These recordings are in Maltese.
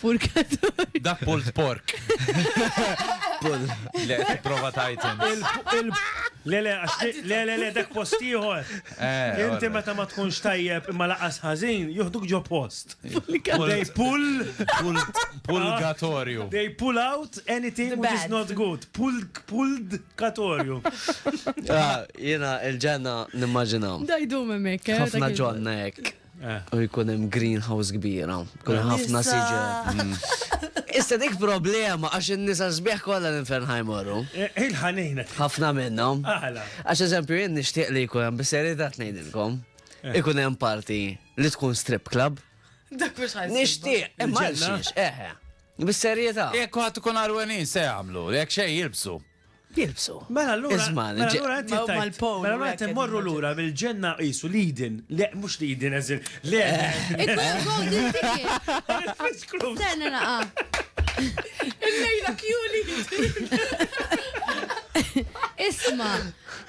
Purgatorju. Dak pulled pork. Pull. Le, prova tajten. Le, le, le, le, le, dak post ieħor. Eh, Inti meta ma tkunx tajjeb imma laqas ħażin, joħduk ġo post. They pull. Pulgatorju. They pull out anything which is not good. Pull, pulled katorju. Ah, Jena il-ġenna nimmaġinaw. Dajdu memmek. Eh, Ħafna ġonna jek. u jkun hemm greenhouse kbira, kun hemm ħafna siġar. Issa dik problema għax in-nisa sbieħ kollha l-infern ħajmorru. Eh, Il-ħanejna. Ħafna minnhom. Għala. Għax eżempju jien nixtieq li jkun hemm bis-serjetà tnejdilkom. Eh. Ikun hemm parti li tkun strip club. Dak mhux ħajsir. Nixtieq, imma xiex, eħe. Bis-serjetà. Jekk għad tkun arwenin se jagħmlu, jekk xejn jilbsu. Jilbsu. Mela allura. Iżman, mela allura qed jittajt. Mal-powl. Mela allura qed immorru lura mill-ġenna qisu lidin. Le, mhux lidin eżil. Le. Tenna naqa. Il-lejla kjuli. Isma,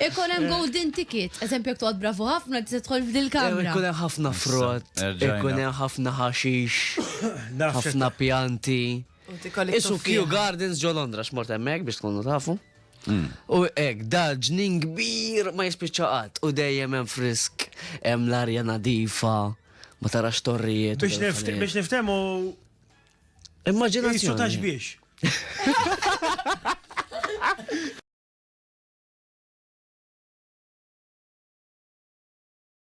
ikon hemm golden ticket, eżempju jekk toqgħod bravu ħafna tista' tħol f'dil kamra. Ikun hemm ħafna frott, ikun hemm ħafna ħaxix, ħafna pjanti. Isu Kew Gardens ġo Londra x'mort hemmhekk biex tkunu tafu. Mm. U ek, da ġnin kbir ma jispiċċaqat u dejjem hemm frisk, hemm l-arja nadifa, ma tarax torrijiet. Biex niftemu. Immaġinazzjoni. Isu biex.